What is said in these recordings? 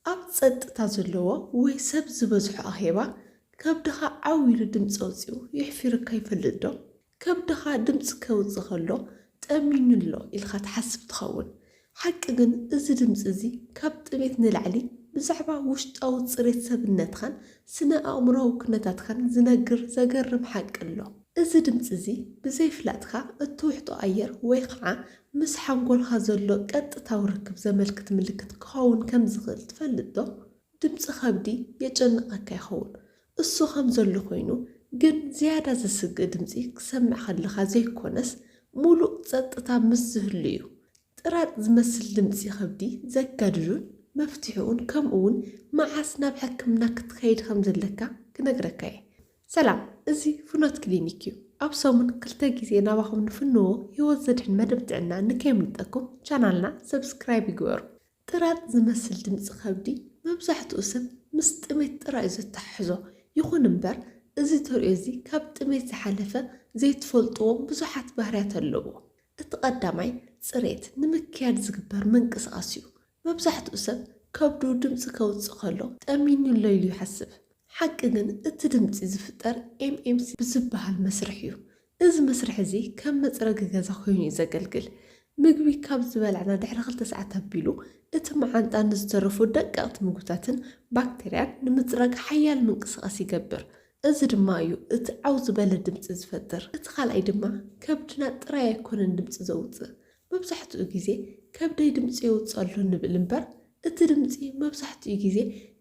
ኣብ ጸጥታ ዘለዎ ወይ ሰብ ዝበዝሖ ኣኼባ ከብድኻ ዓው ኢሉ ድምጺ ኣውጺኡ የሕፊርካ ይፈልጥ ዶ? ከብድኻ ድምጺ ከውጽእ ከሎ ጠሚዩኒ ኣሎ ኢልካ ትሓስብ ትኸውን። ሓቂ ግን እዚ ድምጺ እዚ ካብ ጥሜት ንላዕሊ ብዛዕባ ውሽጣዊ ጽሬት ሰብነትካን ስነ ኣእምሮኣዊ ኩነታትካን ዝነግር ዘገርም ሓቂ ኣሎ። እዚ ድምጺ እዚ ብዘይፍላጥካ እትውሕጦ ኣየር ወይ ኸዓ ምስ ሓንጎልካ ዘሎ ቀጥታዊ ርክብ ዘመልክት ምልክት ክኸውን ከም ዝኽእል ትፈልጥዶ? ድምጺ ከብዲ የጨንቐካ ይኸውን፣ እሱ ከም ዘሎ ኮይኑ ግን ዝያዳ ዘስግእ ድምጺ ክትሰምዕ ከለኻ ዘይኮነስ ምሉእ ጸጥታ ምስ ዝህሉ'ዩ። ጥራጥ ዝመስል ድምጺ ከብዲ ዘጋድዱን መፍትሒኡን ከምኡ'ውን መዓስ ናብ ሕክምና ክትከይድ ከም ዘለካ ክነግረካ'የ። ሰላም እዚ ፍኖት ክሊኒክ እዩ ኣብ ሰሙን ክልተ ግዜ ናባኹም ንፍንዎ ህይወት ዘድሕን መደብ ጥዕና ንከየምልጠኩም ቻናልና ሰብስክራይብ ይግበሩ። ጥራጥ ዝመስል ድምጺ ከብዲ መብዛሕትኡ ሰብ ምስ ጥሜት ጥራይ'ዩ ዘተሓሕዞ። ይኹን እምበር እዚ ተርእዮ እዚ ካብ ጥሜት ዝሓለፈ ዘይትፈልጥዎም ብዙሓት ባህርያት ኣለዉዎ። እቲ ቀዳማይ ጽሬት ንምክያድ ዝግበር ምንቅስቓስ'ዩ። መብዛሕትኡ ሰብ ከብዱ ድምጺ ከውጽእ ከሎ ጠሚዩኒ ኣሎ ኢሉ ይሓስብ። ሓቂ ግን እቲ ድምጺ ዝፍጠር ኤምኤምሲ ብዝበሃል መስርሕ እዩ። እዚ መስርሕ እዚ ከም መጽረጊ ገዛ ኮይኑ እዩ ዘገልግል። ምግቢ ካብ ዝበላዕና ድሕሪ ክልተ ሰዓት ኣቢሉ እቲ መዓንጣ ንዝተረፉ ደቀቕቲ ምግብታትን ባክተርያን ንምጽራግ ሓያል ምንቅስቓስ ይገብር። እዚ ድማ እዩ እቲ ዓው ዝበለ ድምጺ ዝፈጥር። እቲ ካልኣይ ድማ ከብድና ጥራይ ኣይኮነን ድምጺ ዘውጽእ። መብዛሕትኡ ግዜ ከብደይ ድምጺ የውጽእ ኣሎ ንብል እምበር እቲ ድምጺ መብዛሕትኡ ግዜ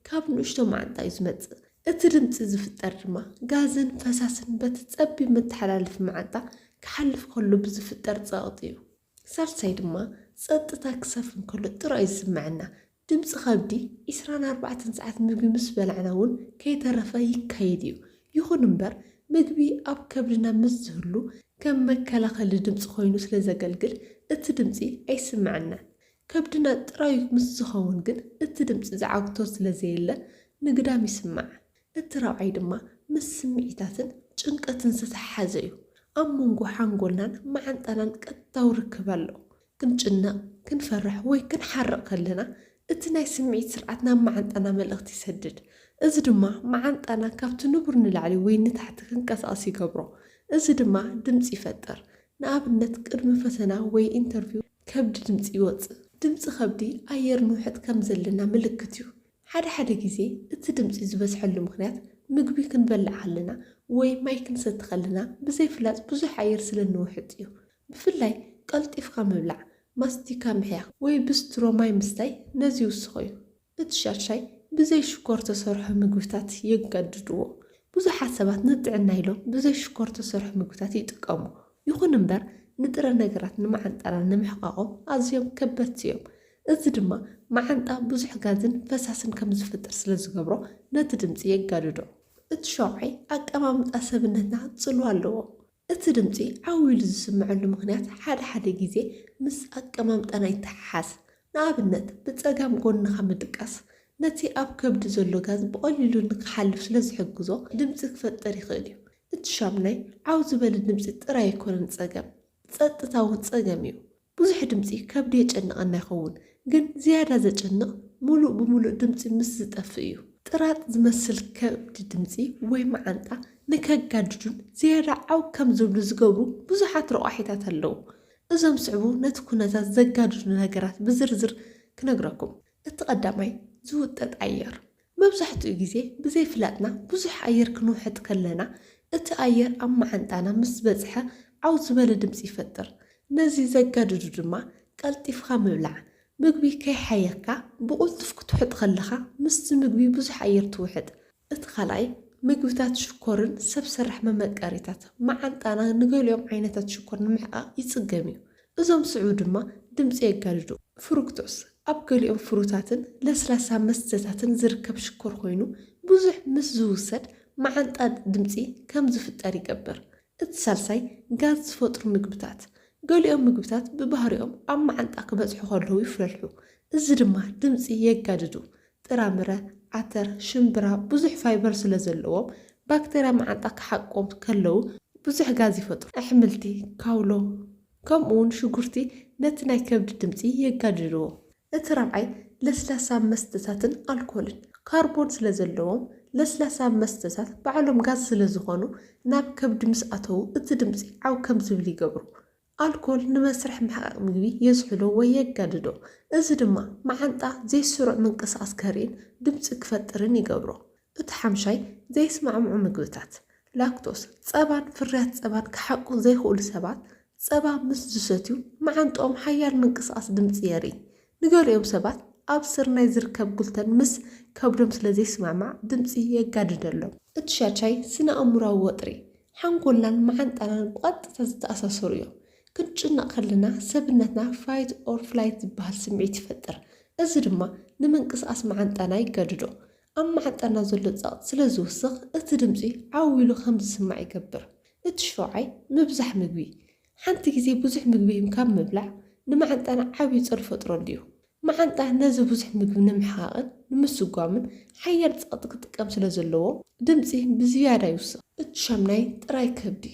ካብ ንእሽቶ መዓንጣ እዩ ዝመጽእ። እቲ ድምጺ ዝፍጠር ድማ ጋዝን ፈሳስን በቲ ጸቢብ መተሓላለፊ መዓንጣ ክሓልፍ ከሎ ብዝፍጠር ጸቕጢ እዩ። ሳልሳይ ድማ ጸጥታ ክሰፍን ከሎ ጥራይ እዩ ዝስመዐና። ድምጺ ከብዲ ዕስራን ኣርባዕተን ሰዓት ምግቢ ምስ በላዕና እውን ከይተረፈ ይካየድ እዩ። ይኹን እምበር ምግቢ ኣብ ከብድና ምስ ዝህሉ ከም መከላኸሊ ድምጺ ኮይኑ ስለ ዘገልግል እቲ ድምጺ ኣይስመዐናን። ከብድና ጥራዩ ምስ ዝኸውን ግን እቲ ድምጺ ዝዓግቶ ስለ ዘየለ ንግዳም ይስማዕ። እቲ ራብዓይ ድማ ምስ ስምዒታትን ጭንቀትን ዝተተሓሓዘ እዩ። ኣብ መንጎ ሓንጎልናን መዓንጣናን ቀጥታዊ ርክብ ኣሎ። ክንጭነቕ፣ ክንፈርሕ ወይ ክንሓርቕ ከለና እቲ ናይ ስምዒት ስርዓት ናብ መዓንጣና መልእኽቲ ይሰድድ። እዚ ድማ መዓንጣና ካብቲ ንቡር ንላዕሊ ወይ ንታሕቲ ክንቀሳቐስ ይገብሮ። እዚ ድማ ድምጺ ይፈጥር። ንኣብነት ቅድሚ ፈተና ወይ ኢንተርቪው ከብዲ ድምጺ ይወጽእ። ድምጺ ከብዲ ኣየር ንውሕጥ ከም ዘለና ምልክት እዩ። ሓደ ሓደ ግዜ እቲ ድምጺ ዝበዝሐሉ ምኽንያት ምግቢ ክንበልዕ ከለና ወይ ማይ ክንሰቲ ከለና ብዘይፍላጥ ብዙሕ ኣየር ስለ እንውሕጥ እዩ። ብፍላይ ቀልጢፍካ ምብላዕ፣ ማስቲካ ምሕያኽ ወይ ብስትሮ ማይ ምስታይ ነዚ ይውስኾ እዩ። እቲ ሻድሻይ ብዘይ ሽኮር ተሰርሑ ምግብታት የገድድዎ። ብዙሓት ሰባት ንጥዕና ኢሎም ብዘይ ሽኮር ተሰርሑ ምግብታት ይጥቀሙ። ይኹን እምበር ንጥረ ነገራት ንመዓንጣና ንምሕቃቖም ኣዝዮም ከበድቲ እዮም። እዚ ድማ መዓንጣ ብዙሕ ጋዝን ፈሳስን ከም ዝፍጥር ስለ ዝገብሮ ነቲ ድምጺ የጋድዶ። እቲ ሻውዓይ ኣቀማምጣ ሰብነትና ጽልዋ ኣለዎ። እቲ ድምጺ ዓው ኢሉ ዝስምዐሉ ምኽንያት ሓደ ሓደ ግዜ ምስ ኣቀማምጣና ይተሓሓዝ። ንኣብነት ብጸጋም ጎንኻ ምድቃስ ነቲ ኣብ ከብዲ ዘሎ ጋዝ ብቐሊሉ ንክሓልፍ ስለ ዝሕግዞ ድምጺ ክፈጥር ይኽእል እዩ። እቲ ሻሙናይ ዓው ዝበለ ድምጺ ጥራይ ኣይኮነን ጸገም፣ ጸጥታ እውን ጸገም እዩ። ብዙሕ ድምጺ ከብዲ የጨንቐና ይኸውን፣ ግን ዝያዳ ዘጨንቕ ምሉእ ብምሉእ ድምጺ ምስ ዝጠፍእ እዩ። ጥራጥ ዝመስል ከብዲ ድምጺ ወይ መዓንጣ ንከጋድዱን ዝያዳ ዓው ከም ዝብሉ ዝገብሩ ብዙሓት ረቋሒታት ኣለዉ። እዞም ዝስዕቡ ነቲ ኩነታት ዘጋድዱ ነገራት ብዝርዝር ክነግረኩም። እቲ ቀዳማይ፣ ዝውጠጥ ኣየር። መብዛሕትኡ ግዜ ብዘይፍላጥና ብዙሕ ኣየር ክንውሕጥ ከለና፣ እቲ ኣየር ኣብ መዓንጣና ምስ ዝበጽሐ ዓው ዝበለ ድምጺ ይፈጥር። ነዚ ዘጋድዱ ድማ ቀልጢፍካ ምብላዕ፣ ምግቢ ከይሓየኽካ ብቕልጡፍ ክትውሕጥ ከለኻ ምስቲ ምግቢ ብዙሕ ኣየር ትውሕጥ። እቲ ካልኣይ፣ ምግብታት ሽኮርን ሰብ ሰራሕ መመቀሪታት፣ መዓንጣና ንገሊኦም ዓይነታት ሽኮር ንምሕቃቕ ይጽገም እዩ። እዞም ዝስዕቡ ድማ ድምጺ የጋድዱ። ፍሩክቶስ፣ ኣብ ገሊኦም ፍሩታትን ለስላሳ መስተታትን ዝርከብ ሽኮር ኮይኑ፣ ብዙሕ ምስ ዝውሰድ መዓንጣ ድምጺ ከም ዝፍጠር ይገብር። እቲ ሳልሳይ፣ ጋዝ ዝፈጥሩ ምግብታት። ገሊኦም ምግብታት ብባህሪኦም ኣብ መዓንጣ ክበጽሑ ከለዉ ይፍለልሑ፣ እዚ ድማ ድምጺ የጋድዱ። ጥራምረ፣ ዓተር፣ ሽምብራ ብዙሕ ፋይበር ስለ ዘለዎም ባክተርያ መዓንጣ ክሓቅቆም ከለው ብዙሕ ጋዝ ይፈጥሩ። ኣሕምልቲ፣ ካውሎ ከምኡ'ውን ሽጉርቲ ነቲ ናይ ከብዲ ድምጺ የጋድድዎ። እቲ ራብዓይ ለስላሳ መስተታትን ኣልኮልን ካርቦን ስለ ዘለዎም ለስላሳ መስተታት ባዕሎም ጋዝ ስለ ዝኾኑ ናብ ከብዲ ምስ ኣተው እቲ ድምጺ ዓው ከም ዝብል ይገብሩ። ኣልኮል ንመስርሕ ምሕቓቕ ምግቢ የዝሕሎ ወይ የጋድዶ፣ እዚ ድማ መዓንጣ ዘይስሩዕ ምንቅስቓስ ከርእይን ድምጺ ክፈጥርን ይገብሮ። እቲ ሓምሻይ ዘይስማዕምዑ ምግብታት፣ ላክቶስ፣ ጸባን ፍርያት ጸባን ክሓቁ ዘይክእሉ ሰባት ጸባ ምስ ዝሰትዩ መዓንጥኦም ሓያል ምንቅስቓስ ድምጺ የርእይ፣ ንገሊኦም ሰባት ኣብ ስርናይ ዝርከብ ግሉተን ምስ ከብዶም ስለ ዘይስማዕማዕ ድምጺ የጋድደሎም። እቲ ሻቻይ ስነ-ኣእምሮኣዊ ወጥሪ፣ ሓንጎልናን መዓንጣናን ብቐጥታ ዝተኣሳሰሩ እዮም። ክንጭነቕ ከለና ሰብነትና Fight or Flight ዝበሃል ስምዒት ይፈጥር፣ እዚ ድማ ንምንቅስቓስ መዓንጣና የጋድዶ። ኣብ መዓንጣና ዘሎ ጸቕጢ ስለ ዝውስኽ እቲ ድምጺ ዓው ኢሉ ከም ዝስማዕ ይገብር። እቲ ሸውዓይ ምብዛሕ ምግቢ፣ ሓንቲ ግዜ ብዙሕ ምግቢ ካብ ምብላዕ ንመዓንጣና ዓብዪ ጾር ይፈጥረሉ እዩ። መዓንጣ ነዚ ብዙሕ ምግቢ ንምሕቓቕን ንምስጓምን ሓያል ጸቕጢ ክጥቀም ስለ ዘለዎ፣ ድምጺ ብዝያዳ ይውስኽ። እቲ ሻምናይ ጥራይ ከብዲ።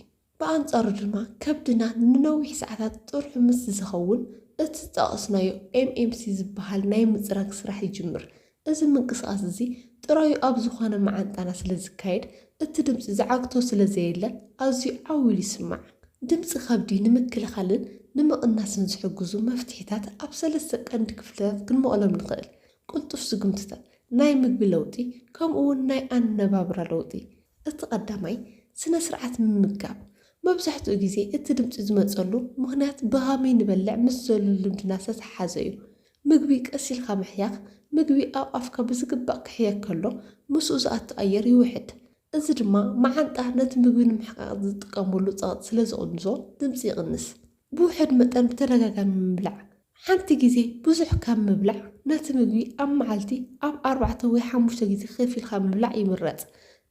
ብኣንጻሩ ድማ ከብድና ንነዊሕ ሰዓታት ጥርሑ ምስ ዝኸውን፣ እቲ ዝጠቐስናዮ ኤምኤምሲ ዝበሃል ናይ ምጽራግ ስራሕ ይጅምር። እዚ ምንቅስቓስ እዚ ጥራዩ ኣብ ዝዀነ መዓንጣና ስለ ዝካየድ፣ እቲ ድምጺ ዝዓግቶ ስለ ዘየለ ኣዝዩ ዓው ኢሉ ይስማዕ። ድምጺ ከብዲ ንምክልኻልን ንምቕናስን ዝሕግዙ መፍትሒታት ኣብ ሰለስተ ቀንዲ ክፍልታት ክንመቕሎም ንኽእል፣ ቅልጡፍ ስጕምትታት፣ ናይ ምግቢ ለውጢ፣ ከምኡ'ውን ናይ ኣነባብራ ለውጢ። እቲ ቀዳማይ፣ ስነ-ስርዓት ምምጋብ። መብዛሕትኡ ግዜ እቲ ድምጺ ዝመጸሉ ምኽንያት ብኸመይ ንበልዕ ምስ ዘሎ ልምድና ዝተተሓሓዘ'ዩ። ምግቢ ቀስ ኢልካ ምሕያኽ፣ ምግቢ ኣብ ኣፍካ ብዝግባእ ክሕየክ ከሎ ምስኡ ዝኣቱ ኣየር ይውሕድ። እዚ ድማ መዓንጣ ነቲ ምግቢ ንምሕቃቕ ዝጥቀመሉ ጸቕጢ ስለ ዝቕንሶ ድምጺ ይቕንስ። ብውሑድ መጠን ብተደጋጋሚ ምብላዕ፣ ሓንቲ ግዜ ብዙሕ ካብ ምብላዕ ነቲ ምግቢ ኣብ መዓልቲ ኣብ ኣርባዕተ ወይ ሓሙሽተ ግዜ ከፊልካ ምብላዕ ይምረጽ።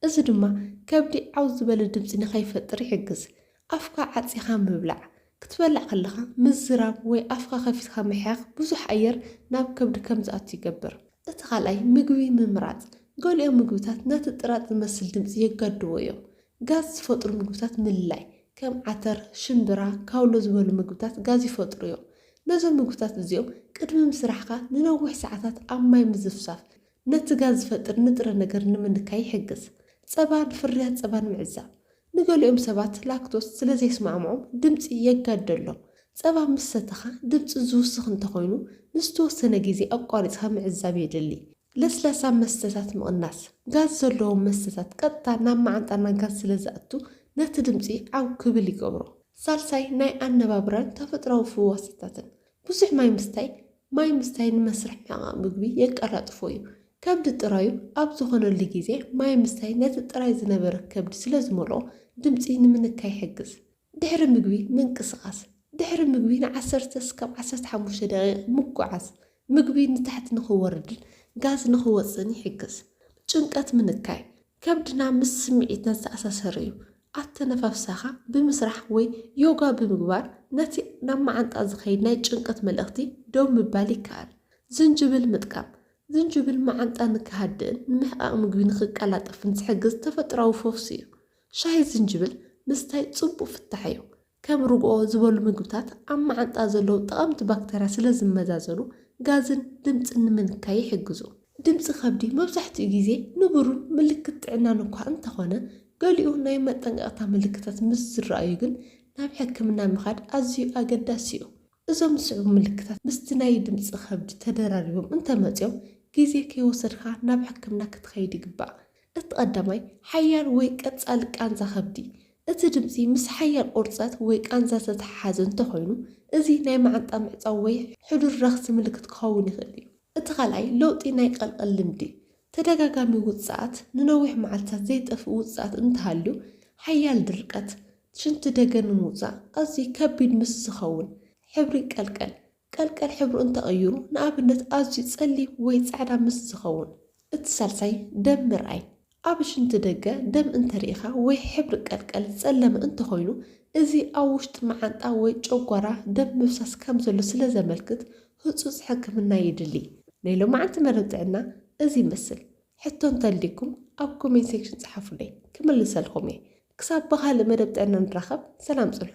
እዚ ድማ ከብዲ ዓው ዝበለ ድምጺ ንኸይፈጥር ይሕግዝ። ኣፍካ ዓጺኻ ምብላዕ፣ ክትበልዕ ከለኻ ምዝራብ ወይ ኣፍካ ከፊትካ ምሕያኽ ብዙሕ ኣየር ናብ ከብዲ ከም ዝኣቱ ይገብር። እቲ ካልኣይ ምግቢ ምምራጽ፣ ገሊኦም ምግብታት ነቲ ጥራጥ ዝመስል ድምጺ የጋድድዎ እዮም። ጋዝ ዝፈጥሩ ምግብታት ምልላይ፣ ከም ዓተር፣ ሽምብራ፣ ካውሎ ዝበሉ ምግብታት ጋዝ ይፈጥሩ እዮም። ነዞም ምግብታት እዚኦም ቅድሚ ምስራሕካ ንነዊሕ ሰዓታት ኣብ ማይ ምዝፍሳፍ ነቲ ጋዝ ዝፈጥር ንጥረ ነገር ንምንካይ ይሕግዝ። ጸባን ፍርያት ጸባን ምዕዛብ፣ ንገሊኦም ሰባት ላክቶስ ስለ ዜስማዕምዖም ድምጺ የጋድደሎም። ጸባ ምስ ሰተኻ ድምጺ ዚውስኽ እንተ ዀይኑ፣ ንዝተወሰነ ግዜ ኣቋሪጽካ ምዕዛብ የድሊ። ለስላሳ መስተታት ምቕናስ። ጋዝ ዘለዎም መስተታት ቀጥታ ናብ መዓንጣና ጋዝ ስለ ዚኣቱ፣ ነቲ ድምጺ ዓው ኪብል ይገብሮ። ሳልሳይ፣ ናይ ኣነባብራን ተፈጥሮኣዊ ፍዋሳታትን። ብዙሕ ማይ ምስታይ፣ ማይ ምስታይ ንመስርሕ ምሕቓቕ ምግቢ የቀላጥፎ እዩ። ከብዲ ጥራዩ ኣብ ዝኾነሉ ግዜ ማይ ምስታይ ነቲ ጥራይ ዝነበረ ከብዲ ስለ ዝመልኦ ድምጺ ንምንካይ ይሕግዝ። ድሕሪ ምግቢ ምንቅስቓስ፣ ድሕሪ ምግቢ ንዓሰርተ ስካብ ዓሰርተ ሓሙሽተ ደቒቕ ምጉዓዝ ምግቢ ንታሕቲ ንኽወርድን ጋዝ ንኽወጽእን ይሕግዝ። ጭንቀት ምንካይ፣ ከብድና ምስ ስምዒትና ዝተኣሳሰረ'ዩ። ኣተነፋፍሳኻ ብምስራሕ ወይ ዮጋ ብምግባር ነቲ ናብ መዓንጣ ዝኸይድ ናይ ጭንቀት መልእኽቲ ደው ምባል ይከኣል። ዝንጅብል ምጥቃም፣ ዝንጅብል መዓንጣ ንክሃድእን ንምሕቓቕ ምግቢ ንክቀላጠፍን ዝሕግዝ ተፈጥሮኣዊ ፈውሲ እዩ። ሻሂ ዝንጅብል ምስታይ ጽቡቕ ፍታሕ እዩ፣ ከም ርግኦ ዝበሉ ምግብታት ኣብ መዓንጣ ዘለዉ ጠቐምቲ ባክተርያ ስለ ዝመዛዘኑ ጋዝን ድምጽን ንምንካይ ይሕግዙ። ድምጺ ከብዲ መብዛሕትኡ ግዜ ንቡርን ምልክት ጥዕናን እኳ እንተኾነ፣ ገሊኡ ናይ መጠንቀቕታ ምልክታት ምስ ዝረኣዩ ግን ናብ ሕክምና ምኻድ ኣዝዩ ኣገዳሲ'ዩ። እዞም ዝስዕቡ ምልክታት ምስቲ ናይ ድምጺ ከብዲ ተደራሪቦም እንተመጺኦም ግዜ ከይወሰድካ ናብ ሕክምና ክትኸይድ ይግባእ። እቲ ቀዳማይ ሓያል ወይ ቀጻሊ ቃንዛ ከብዲ፣ እቲ ድምጺ ምስ ሓያል ቁርጸት ወይ ቃንዛ ዝተተሓሓዘ እንተኾይኑ እዚ ናይ መዓንጣ ምዕጻው ወይ ሕዱር ረኽሲ ምልክት ክኸውን ይኽእል እዩ። እቲ ካልኣይ ለውጢ ናይ ቀልቐል ልምዲ፣ ተደጋጋሚ ውጽኣት፣ ንነዊሕ መዓልትታት ዘይጠፍእ ውጽኣት እንተሃልዩ፣ ሓያል ድርቀት፣ ሽንቲ ደገ ንምውጻእ ኣዝዩ ከቢድ ምስ ዝኸውን፣ ሕብሪ ይቀልቀል። ቀልቀል ሕብሩ እንተቐይሩ፣ ንኣብነት ኣዝዩ ጸሊም ወይ ጻዕዳ ምስ ዝኸውን። እቲ ሳልሳይ ደም ምርኣይ። ኣብ ሽንቲ ደገ ደም እንተርኢኻ ወይ ሕብሪ ቀልቀል ጸለመ እንተኾይኑ፣ እዚ ኣብ ውሽጢ መዓንጣ ወይ ጨጓራ ደም ምፍሳስ ከም ዘሎ ስለ ዘመልክት ህጹጽ ሕክምና የድሊ። ናይ ሎማዓንቲ መደብ ጥዕና እዚ ይመስል። ሕቶ እንተልዩኩም ኣብ ኮሜንት ሴክሽን ጸሓፉለይ ክምልሰልኹም እየ ክሳብ ብኻልእ መደብ ጥዕና ንራኸብ ሰላም ጽንሑ።